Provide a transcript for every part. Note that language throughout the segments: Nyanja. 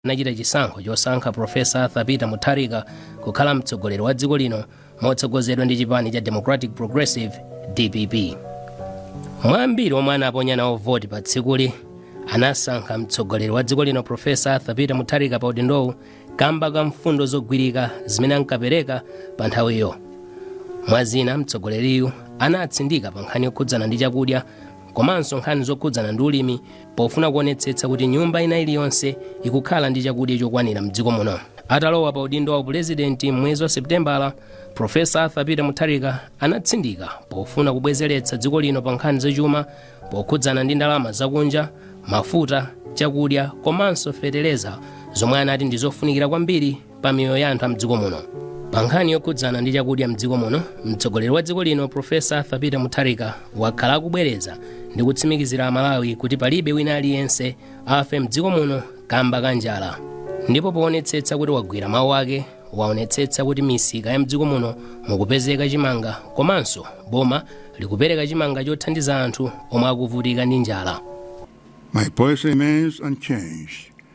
anachita chisankho chosankha Profesa Arthur Peter Mutharika kukhala mtsogoleri wa dziko lino motsogozedwa ndi chipani cha Democratic Progressive DPP. Mwa ambiri omwe anaponya nawo voti pa tsikuli anasankha mtsogoleri wa dziko lino Profesa Arthur Peter Mutharika pa udindowu kamba ka mfundo zogwirika zimene ankapereka pa nthawiyo. Mwa zina mtsogoleriyu anatsindika pa nkhani yokhudzana ndi chakudya komanso nkhani zokhudzana ndi ulimi pofuna kuonetsetsa kuti nyumba ina iliyonse ikukhala ndi chakudya chokwanira mdziko muno atalowa pa udindo wa upulezidenti m'mwezi wa seputembala profesa arthur peter mutharika anatsindika pofuna kubwezeretsa dziko lino pa nkhani zachuma pokhudzana ndi ndalama zakunja mafuta chakudya komanso fetereza zomwe anati ndi zofunikira kwambiri pa miyoyo ya anthu a mdziko muno pa nkhani yokhudzana ndi chakudya mdziko muno mtsogoleri wa dziko lino profesa arthur peter mutharika wakhala akubwereza ndi kutsimikizira amalawi kuti palibe wina aliyense afe mdziko muno kamba ka njala ndipo poonetsetsa kuti wagwira mawu ake waonetsetsa kuti misika ya mdziko muno mukupezeka chimanga komanso boma likupereka chimanga chothandiza anthu omwe akuvutika ndi njala My policy remains unchanged.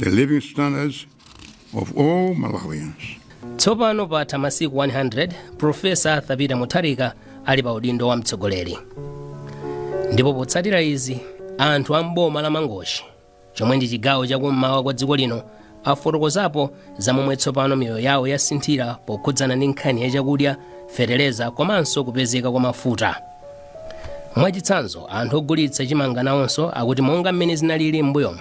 the living standards of all Malawians. tsopano patha masiku 100 profesa arthur peter mutharika ali pa udindo wa mtsogoleri ndipo potsatira izi anthu a mboma la mangochi chomwe ndi chigawo chakummawa kwa dziko lino afotokozapo za momwe tsopano miyoyo yawo yasinthira pokhudzana ndi nkhani ya chakudya fetereza komanso kupezeka kwa mafuta mwachitsanzo anthu ogulitsa chimanga nawonso akuti monga mmene zinalili m'mbuyomu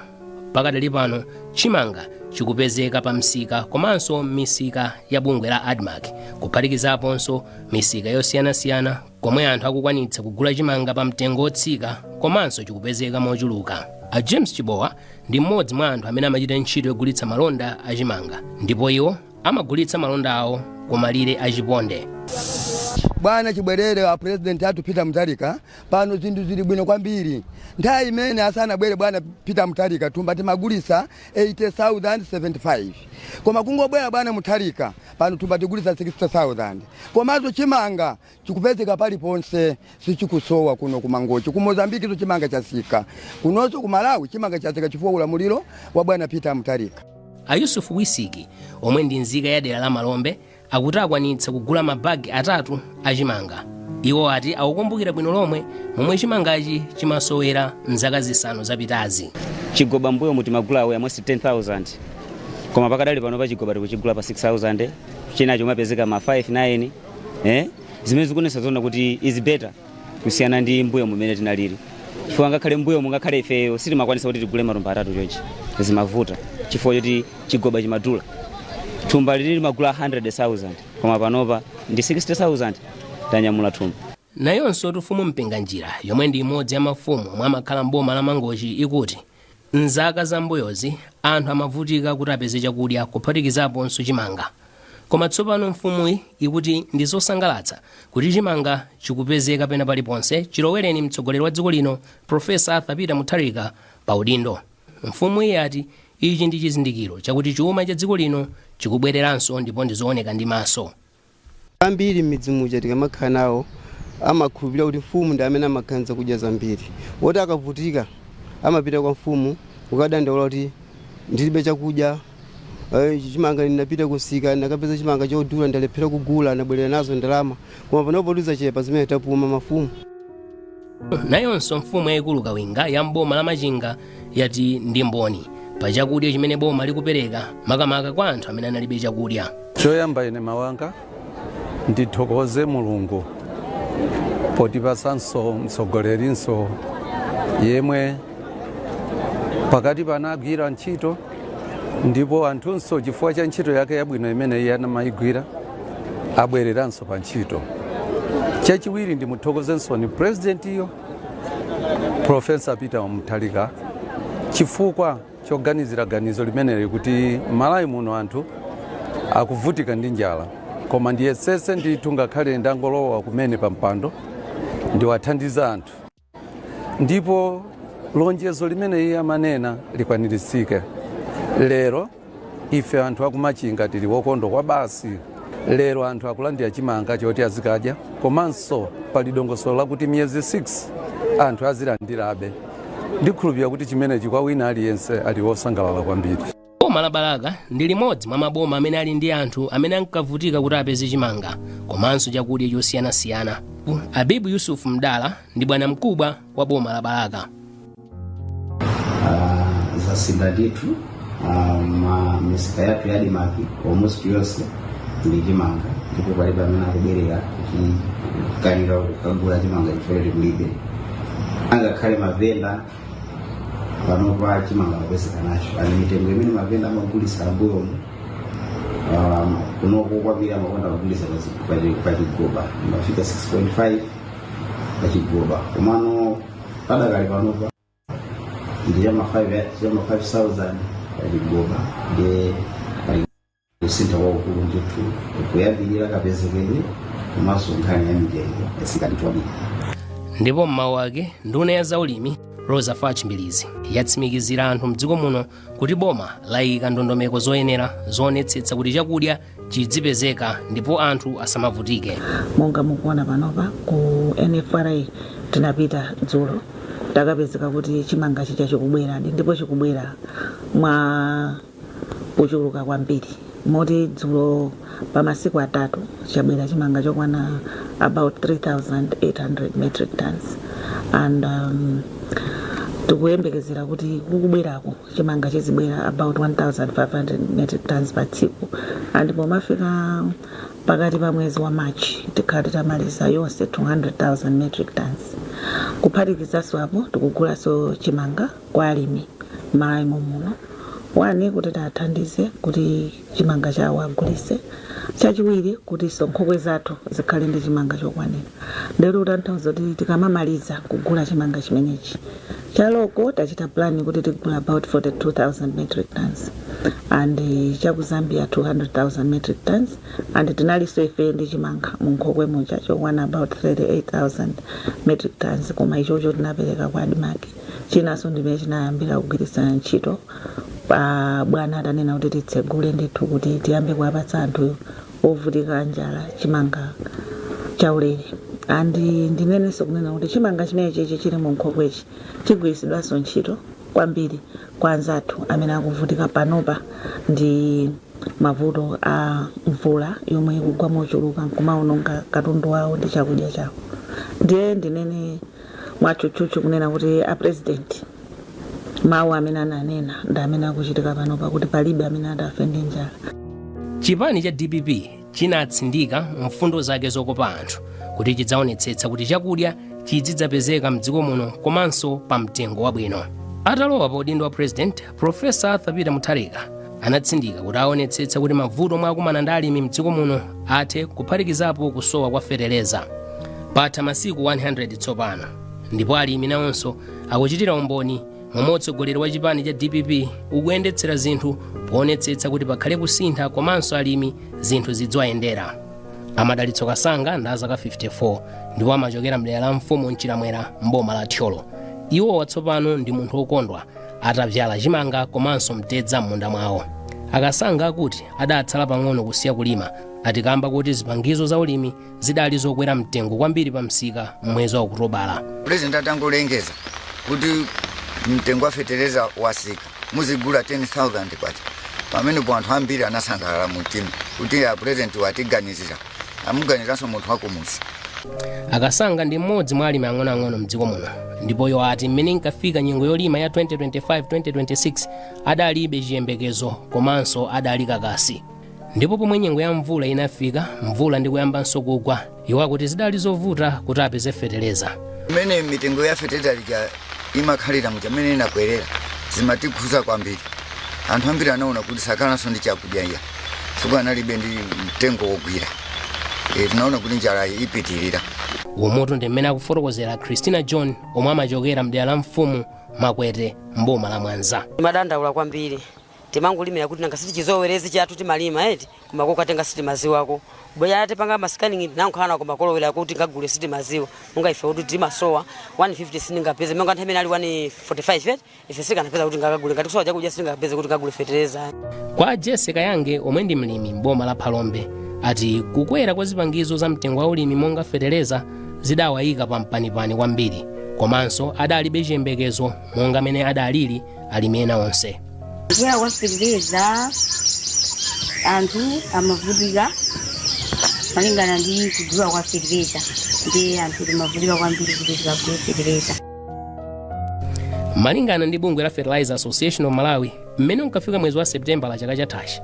pakadali pano chimanga chikupezeka pa msika komanso misika ya bungwe la admarc kuphatikizaponso misika yosiyanasiyana komwe anthu akukwanitsa kugula chimanga pa mtengo wotsika komanso chikupezeka mochuluka a james chibowa ndi mmodzi mwa anthu amene amachita ntchito yogulitsa malonda a chimanga ndipo iwo amagulitsa malonda awo kumalire a chiponde bwana chibwerere a president arthur peter mutharika Pano zinthu zili bwino kwambiri. Nthawi imene asanabwere bwana Peter Mutharika thumba timagulitsa 80,075 koma kungobwera bwana Mutharika pano thumba tigulisa 60,000 komanso chimanga chikupezeka paliponse sichikusowa kuno ku Mangochi. Ku Mozambiquenso chimanga chatsika, kunonso ku Malawi chimanga chatsika chifukwa ulamuliro wa bwana Peter Mutharika. A Yusuf Wisiki, omwe ndi nzika ya dera la Malombe, akuti akwanitsa kugula ma bag atatu a chimanga. Iwo ati akukumbukira bwino lomwe momwe chimangachi chimasowera mzaka zisanu zapitazi. Chigoba m'mbuyomu timagula almost 10,000 koma pakadali pano pa chigoba tikuchigula pa 6,000 china chikumapezeka ma 5, 9 eh? zimene zikuonesa zona kuti is better. kusiyana ndi mbuyo mumene tinalili chifukwa ngakhale mbuyo mungakhale ifeyo sitimakwanisa kuti tigule matumba atatu chonchi zimavuta chifukwa choti chigoba chimadula thumba lili limagula 100,000 koma panopa ndi 60,000 tanyamula thumba nayonso mfumu mpinganjira yomwe ndi imodzi ya mafumu omwe amakhala mboma la mangochi ikuti M'zaka za m'mbuyozi, anthu amavutika kuti apeze chakudya kuphatikizaponso chimanga. Koma tsopano mfumuyi ikuti ndi zosangalatsa kuti chimanga chikupezeka pena paliponse chilowereni mtsogoleri wa dziko lino Professor Arthur Peter Mutharika pa udindo. Mfumuyi yati ichi ndi chizindikiro chakuti chuma cha dziko lino chikubwereranso ndipo ndi zooneka ndi maso. ambiri mmidzi muja tikamakhala nawo amakhulupilira kuti mfumu ndi amene amakhala ndi zakudya zambiri oti akavutika amapita kwa mfumu kukadandaula kuti ndilibe chakudya eh, chimanga ndinapita kumsika ndinakapeza chimanga chodula ndalephera kugula ndabwerera nazo ndalama koma panopo tizachepa zimene tapuma mafumu nayonso mfumu yayikulu kawinga ya mboma la machinga yati ndi mboni pa chakudya chimene boma likupereka makamaka kwa anthu amene analibe chakudya choyamba ine mawanga ndithokoze mulungu potipatsanso mtsogolerinso yemwe pakati panagwira ntchito ndipo anthunso chifukwa cha ntchito yake yabwino imene iye anamayigwira abwereranso pa ntchito chachiwiri ndimuthokozenso ni purezidentiyo profesa peter mutharika chifukwa choganizira ganizo limeneli kuti malawi muno anthu akuvutika ndi njala koma ndiyesetse ndithu ngakhale ndangolowa kumene pa mpando ndiwathandize anthu ndipo lonjezo limene iye amanena likwaniritsike lero ife anthu akumachinga tili wokondwa kwabasi lero anthu akulandira chimanga choti azikadya komanso pali dongosolo lakuti miyezi 6 anthu azilandirabe ndikhulupirira kuti chimenechi kwa wina aliyense ali wosangalala kwambiri boma la balaka ndi limodzi mwa maboma amene ali ndi anthu amene ankavutika kuti apeze chimanga komanso chakudya chosiyanasiyana abibu yusufu mdala ndi bwana mkubwa wa boma la balaka Ah, zasintha ndithu ah, mmisika yathu ya ADMARC almost yonse ili ndi chimanga ndipo palibe amene akubwerera kuchikanira kukagula chimanga chifukwa choti kulibe angakhale mavenda panopa chimanga akupezeka nacho ali mitengo imene mavenda amagulisa ambuyomu kunoko kwambiri amakonda kugulisa pachigoba imafika 6.5 pachigoba komano padakali panopa ndi chama 5000 pachigoba ndi kusintha kwakukulu ndithu kuyambirira kapezekedwe komanso nkhani ya mitengo yatsika kwambiri ndipo m'mawu ake nduna ya zaulimi roza fatch mbilizi yatsimikizira anthu mdziko muno kuti boma layika ndondomeko zoyenera zoonetsetsa kuti chakudya chidzipezeka ndipo anthu asamavutike monga mukuona panopa ku nfra tinapita dzulo takapezeka kuti chimanga chija chikubweradi ndipo chikubwera mwa kuchuluka kwambiri moti dzulo pa masiku atatu chabwera chimanga chokwana about 3800 metric tons and um, tikuyembekezera kuti kukubwerako chimanga chizibwera about 1500 metric tons pa tsiku and pomafika pakati pa mwezi wa march tikhala titamaliza yonse 200000 metric tons kuphatikizanso apo tikugulanso chimanga kwa alimi m'malawi momuno one kuti tiathandize kuti chimanga chawo agulise chachiwiri kutinso nkhokwe zathu zikhale ndi chimanga chokwanira ndiyeno kutanthauza kuti tikamamaliza kugula chimanga chimenechi cha local tachita plan kuti tigula about 42000 metric tons and eh, cha ku zambia 200000 metric tons and tinalinso ife ndi chimanga mu nkhokwe muja chokwana about 38000 metric tons koma ichocho tinapereka kwa admarc chinanso ndimene chinayambira kugwiritsa ntchito pa bwana atanena kuti titsegule ndithu kuti tiyambe kuwapatsa anthu ovutika njala chimanga chaulere and ndinenenso kunena kuti chimanga chimenechichi chili mu nkhokwechi chigwiritsidwanso ntchito kwambiri kwa anzathu amene akuvutika panopa ndi mavuto a mvula yomwe ikugwa mochuluka nkumaononga katundu wawo ndi chakudya chawo ndiye ndinene mwatchutchutchu kunena kuti a president mawu amene ananena ndi amene akuchitika panopa kuti palibe amene atafe ndi njala chipani cha dpp chinatsindika mfundo zake zokopa anthu kuti chidzaonetsetsa kuti chakudya chidzidzapezeka mdziko muno komanso pa mtengo wabwino atalowa pa udindo wa president Profesa Arthur Peter Mutharika anatsindika kuti aonetsetsa kuti mavuto omwe akumana ndi alimi mdziko muno athe kuphatikizapo kusowa kwa feteleza patha masiku 100 tsopano ndipo alimi nawonso akuchitira umboni momwe utsogoleri wa chipani cha dpp ukuyendetsera zinthu poonetsetsa kuti pakhale kusintha komanso alimi zinthu zidziwayendera a madalitso kasanga ndi azaka 54 ndipo amachokera mdera la mfumu mchilamwera mboma la thyolo iwowa tsopano ndi munthu wokondwa atabyala chimanga komanso mtedza m'munda mwawo akasanga akuti adatsala pang'ono kusiya kulima atikamba kuti zipangizo za ulimi zidali zokwera mtengo kwambiri pa msika m'mwezi wa okutobala pulezidenti atangolengeza kuti mtengo wa fetereza watsika muzigula 10000 kwacha pamenepo anthu ambiri anasangalala mu mtima kuti a pulezidenti watiganizira amuganiranso munthu wakumuzi akasanga ndi mmodzi mwa alimi ang'onoang'ono mdziko muno ndipo iwo ati mmene inkafika nyengo yolima ya 2025-2026 adalibe chiyembekezo komanso adali kakasi ndipo pomwe nyengo ya mvula inafika mvula ndi kuyambanso kugwa iwo akuti zidali zovuta kuti apeze feteleza mmene mitengo ya feteleza lija imakhalira muja mmene inakwerera zimatikhuza kwambiri anthu ambiri anaona kuti sakhalanso ndi chakudya iya chifukwa analibe ndi mtengo wogwira e, tinaona kuti njalayi ipitirira umotu ndi mmene akufotokozera christina john omwe amachokera mdera la mfumu makwete mboma la mwanza timadandaula kwambiri timangolimira kuti nanga siti chizowerezi chathu timalima eti koma kokatenga sitimaziwako bweya atipanga masikaningi nankhala nako makolowera kuti ngagule sitimaziwa monga ife kuti timasowa 150 sindingapeze monga nthawi imene ali 145 eti ife sikanapeza kuti ndikagule ngati kusowa chakudya sitingapeze kuti tikagule fetereza kwa jese kayange omwe ndi mlimi m'boma la phalombe ati kukwera kwa zipangizo za mtengo wa ulimi monga fetereza zidawayika pa mpanipani kwambiri komanso adalibe chiyembekezo monga mmene adalili alimi ena onse kukwera kwa fetereza anthu amavutika malingana ndi kugula kwa fetereza ndiye anthu timavutika kwambiri kuti tikagule fetereza malingana ndi bungwe la fertilizer association of malawi mmene unkafika mwezi wa septembala chaka chathachi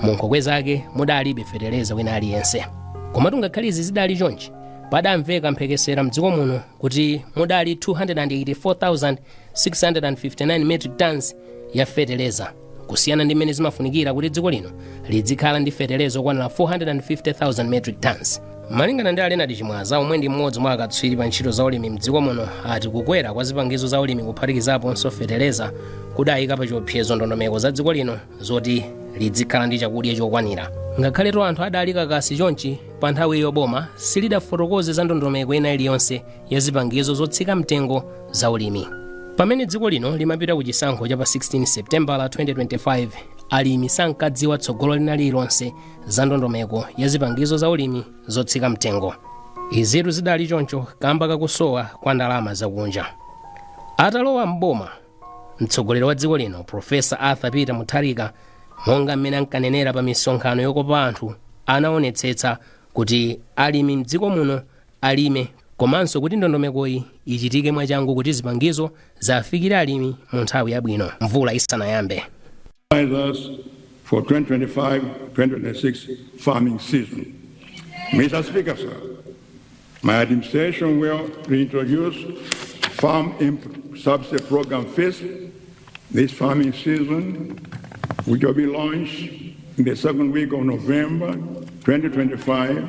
mu nkhokwe zake mudalibe feteleza wina aliyense komatu ngakhale izi zidali chonchi padamveka mphekesera mdziko muno kuti mudali 284,659 metric tons ya feteleza kusiyana ndi mmene zimafunikira kuti dziko lino lidzikhala ndi feteleza okwanira 450,000 metric tons malingana ndi a leonard chimwaza omwe ndi mmodzi mwa akatswiri pa ntchito za ulimi mdziko muno ati kukwera kwa zipangizo za ulimi kuphatikizaponso feteleza kudayika pa chiopsezo ndondomeko za dziko lino zoti lidzikhala ndi chakudya chokwanira ngakhaletu anthu adali kakasi chonchi pa nthawiyo boma silidafotokoze za ndondomeko ina iliyonse ya zipangizo zotsika mtengo za ulimi. Pamene dziko lino limapita ku chisankho cha pa 16 Sepitembala 2025, alimi sankadziwa tsogolo lina lililonse za ndondomeko ya zipangizo za ulimi zotsika mtengo. Izitu zidali choncho kamba kakusowa kwa ndalama zakunja. Atalowa m'boma, mtsogoleri wa dziko lino Profesa Arthur Peter Mutharika monga mmene ankanenera pa misonkhano yokopa anthu anaonetsetsa kuti alimi mdziko muno alime komanso kuti ndondomekoyi ichitike mwachangu kuti zipangizo ziwafikire alimi mu nthawi yabwino mvula isanayambe. For 2025-2026 farming season. Mr. Speaker, sir, my administration will reintroduce farm input subsidy program FISP this farming season, which will be launched in the second week of November 2025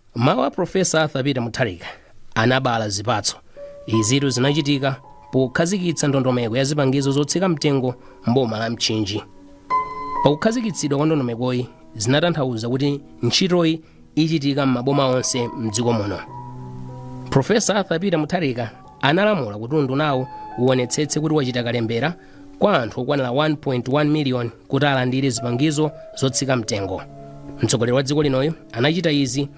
mawu a profesa arthur peter mutharika anabala zipatso izitu zinachitika pokhazikitsa ndondomeko ya zipangizo zotsika mtengo mboma la mchinji pakukhazikitsidwa kwa ndondomekoyi zinatanthauza kuti ntchitoyi ichitika m'maboma onse mdziko muno profesa arthur peter mutharika analamula kuti undunawo uonetsetse kuti wachita kalembera kwa anthu okwanira 1.1 miliyoni kuti alandire zipangizo zotsika mtengo mtsogoleri wa dziko linoyu anachita izi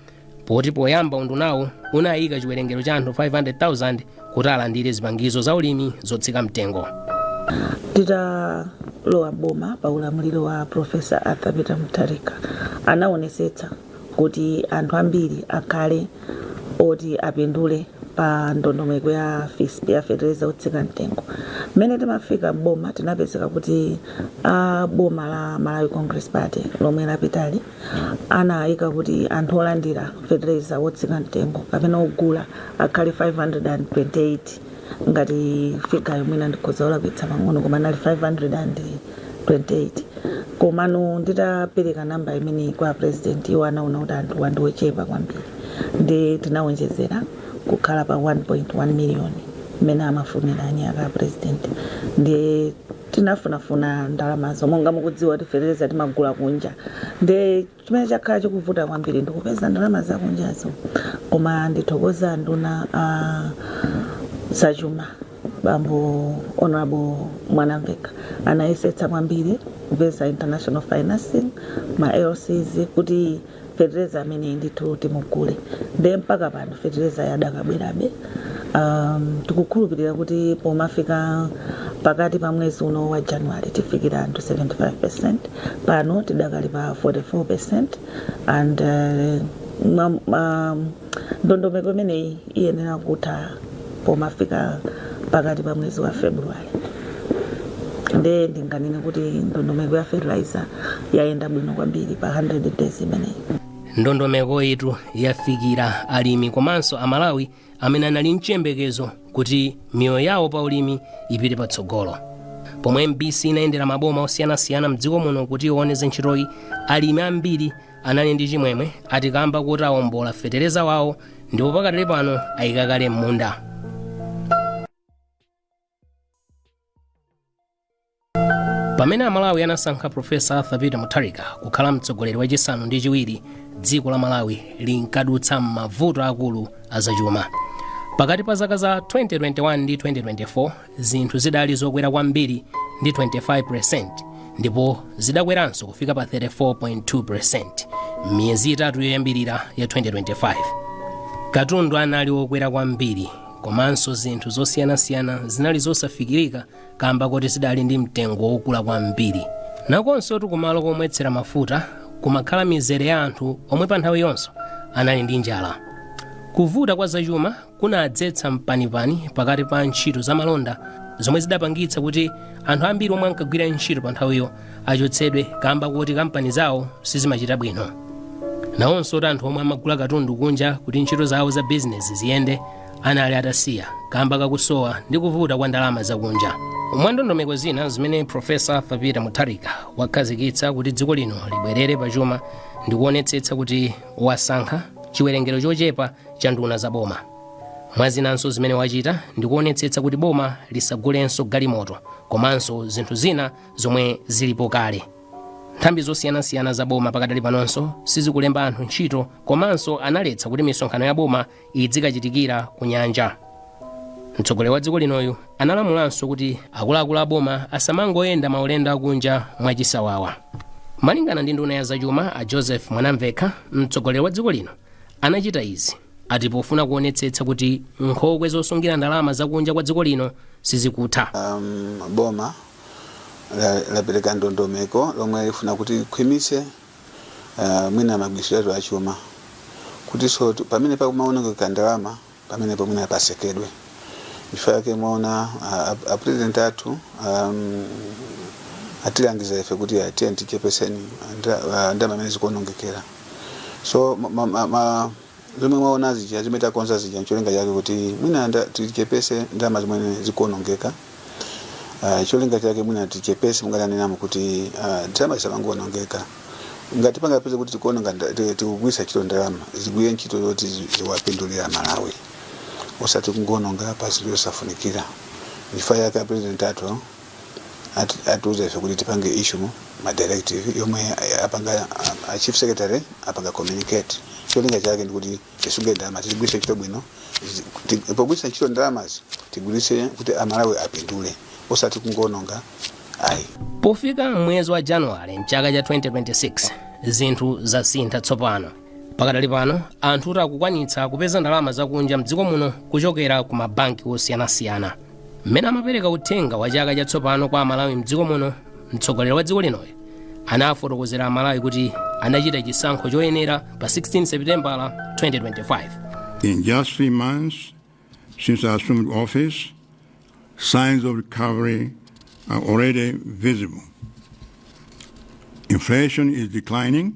poti poyamba undunawo unayika chiwerengero cha anthu 500,000 kuti alandire zipangizo za ulimi zotsika mtengo titalowa boma pa ulamuliro wa profesa arthur peter mutharika anaonesetsa kuti anthu ambiri akhale oti apindule pa ndondomeko ya fisp ya fetereza wotsika mtengo mmene timafika m'boma tinapezeka kuti a boma la malawi congress party lomwe lapitali anayika kuti anthu olandira fetereza wotsika mtengo kapena ogula akhale 528 ngati figayo mwina ndikhoza kulakwitsa pang'ono koma inali 528 komano nditapereka namba imeneyi kwa a president iwo anaona kuti anthu awa ndi ochepa kwambiri nde tinawonjezera kukhala pa 1.1 million mmene amafunira eni ake a president nde tinafunafuna ndalamazo monga mukudziwa kuti fertilizer timagula kunja nde Chimene chakhala chikuvuta kwambiri ndi kupeza ndalama zakunjazo koma ndithokoze anduna a zachuma bambo honorable Mwanamveka anayesetsa kwambiri kupeza international financing ma LCs kuti fetereza ameneyi ndithu timugule nde mpaka pano fetereza yadakabwerabe um, tikukhulupirira kuti pomafika pakati pa mwezi uno wa january tifikire anthu 75 percent pano tidakali pa 44 percent and uh, ma, ma, ndondomeko imeneyi iyenera kutha pomafika pakati pa mwezi wa february nde ndinganene kuti ndondomeko ya fertilizer yayenda bwino kwambiri pa 100 days imeneyi ndondomekoyitu yafikira alimi komanso amalawi amene anali mchiyembekezo kuti miyoyo yawo pa ulimi ipite patsogolo pomwe mbc inayendera maboma osiyanasiyana mdziko muno kuti ione za ntchitoyi alimi ambiri anali ndi chimwemwe ati kamba kuti awombola fetereza wawo ndipo pakadali pano ayika kale m'munda pamene amalawi anasankha profesa arthur peter mutharika kukhala mtsogoleri wachisanu ndi chiwiri dziko la malawi linkadutsa m'mavuto akulu azachuma pakati pa zaka za 2021 ndi 2024 zinthu zidali zokwera kwambiri ndi 25% ndipo zidakweranso kufika pa 34.2% miyezi itatu yoyambirira ya 2025 katundu anali wokwera kwambiri Komanso zinthu zosiyanasiyana zinali zosafikirika kamba koti zidali ndi mtengo wokula kwambiri. Nakonsotu kumalo komwetsera mafuta kumakhala mizere ya anthu omwe pa nthawiyonso anali ndi njala. Kuvuta kwa zachuma kunadzetsa mpanipani pakati pa ntchito za malonda zomwe zidapangitsa kuti anthu ambiri omwe ankagwira ntchito pa nthawiyo achotsedwe kamba koti kampani zawo sizimachita bwino nawonsotu anthu omwe amagula katundu kunja kuti ntchito zawo za bizinesi ziyende anali atasiya kamba kakusowa ndi kuvuta kwa ndalama zakunja mwa ndondomeko zina zimene profesa arthur peter mutharika wakhazikitsa kuti dziko lino libwerere pa chuma ndi kuonetsetsa kuti wasankha chiwerengero chochepa cha nduna za boma mwa zinanso zimene wachita ndi kuonetsetsa kuti boma lisagulenso galimoto komanso zinthu zina zomwe zilipo kale nthambi zosiyanasiyana za boma pakadali panonso sizikulemba anthu ntchito komanso analetsa kuti misonkhano ya boma idzikachitikira ku nyanja mtsogoleri wa dziko linoyu analamulanso kuti akuluakulu a boma asamangoyenda maulendo akunja mwachisawawa malingana ndi nduna ya zachuma a joseph mwanamvekha mtsogoleri wa dziko lino anachita izi ati pofuna kuonetsetsa kuti nkhokwe zosungira ndalama zakunja kwa dziko lino sizikutha um, boma la- lapereka ndondomeko lomwe lifuna kuti likhwimitse ah, mwina magwiritsidwe athu achuma kutiso tu- pamene pakumaonongekera ndalama pamenepo mwina pasekedwe chifukwa chake mwaona ah, ap- apresident athu um, atilangiza ife kuti tiyeni tichepeseni ndalama zimene zikuonongekera so ma, ma, ma, ma, zomwe mwaona zija zimene takonza zija ncholinga chake kuti mwina nda- tichepese ndalama zimene zikuonongeka uh, cholinga chake mwina tichepese munganenemo kuti uh, ndalama zisamangoonongeka ngati pangapeze kuti tikuononga nda- ti- tikugwiritsa ntchito ndalama zigwire ntchito zoti zi- ziwapindulira malawi osati kungoononga pa zinthu zosafunikira chifukwa chake apresident athu ati- atiuza ife kuti tipange issue ma directive yomwe eh, apanga a- a chief secretary apanga communicate cholinga chake ndikuti tisunge ndalama tigwiritse ntchito bwino zi- ti- pogwiritsa ntchito ndalamazi tigwiritse kuti amalawi apindule osati kungoononga ayi pofika m'mwezi wa januwale mchaka cha 2026 zinthu zasintha tsopano pakadali pano anthu akuti akukwanitsa kupeza ndalama zakunja mdziko muno kuchokera ku mabanki osiyanasiyana mmene amapereka uthenga wa chaka chatsopano kwa amalawi mdziko muno mtsogoleri wa dziko linoyo anafotokozera amalawi kuti anachita chisankho choyenera pa 16 sepitembala 2025 In just three months since I assumed office, signs of recovery are already visible. Inflation is declining,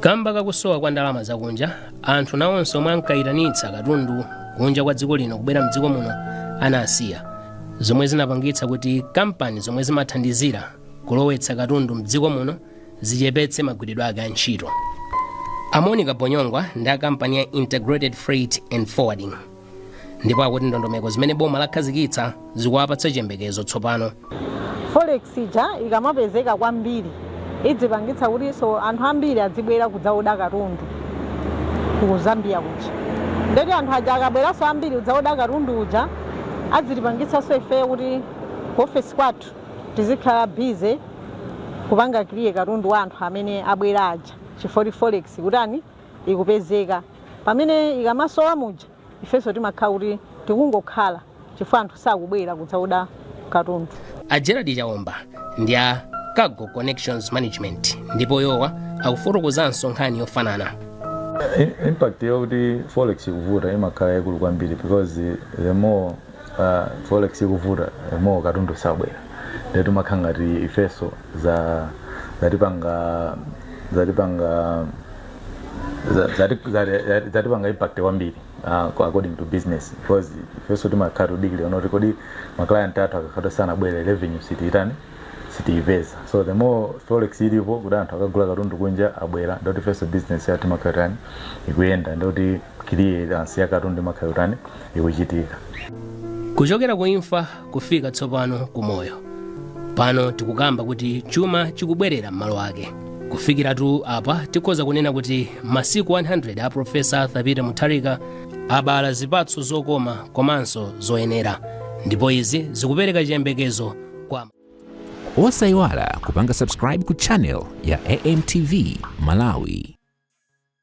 Kamba ka kusowa kwa ndalama zakunja, anthu nawonso omwe ankayitanitsa katundu kunja kwa dziko lino kubwera mdziko muno anasiya, zomwe zinapangitsa kuti kampani zomwe zimathandizira kulowetsa katundu mdziko muno zichepetse magwiridwe ake a ntchito. A Monica Bonyongwa ndi a kampani ya Integrated Freight and Forwarding. ndipo akuti ndondomeko zimene boma lakhazikitsa zikuwapatsa chiyembekezo tsopano forex ija ikamapezeka kwambiri idzipangitsa kutinso anthu ambiri adzibwera kudzaoda katundu ku zambia kuja ndeti anthu aja akabweranso ambiri kudzaoda katundu uja adzitipangitsanso ifeyo kuti ofesi kwathu tizikhala bize kupanga kiliye katundu wa anthu amene abwera aja chifukwa kuti forex kutani ikupezeka. Pamene ikamasowa muja ifenso timakhala kuti tikungokhala chifukwa anthu sakubwera kudzaoda katundu. A Gerald Chaomba ndi a Cargo Connections Management ndipo iwowa akufotokozanso nkhani yofanana. I- impact yakuti forex ikuvuta imakhala yaikulu kwambiri because the more uh, forex ikuvuta the more katundu sabwera nde timakhala ngati ifeso za zatipanga zatipanga za- zati- zati- zati- zatipanga impact kwambiri uh, kwa- according to business because ifeso timakhala tikudikilira ndoti kodi maclient athu akakhala sanabwere revenue sitiitani sitiipeza so the more forex ilipo kuti anthu akagula katundu kunja abwera ndoti ifeso business yathu imakhala tani ikuyenda ndoti clearance ya katundu imakhala tani ikuchitika kuchokera ku imfa kufika tsopano ku moyo pano tikukamba kuti chuma chikubwerera m'malo ake kufikiratu apa tikhoza kunena kuti masiku 100 a profesa arthur peter mutharika abala zipatso zokoma komanso zoyenera ndipo izi zikupereka chiyembekezo kwa osayiwala kupanga subscribe ku channel ya amtv malawi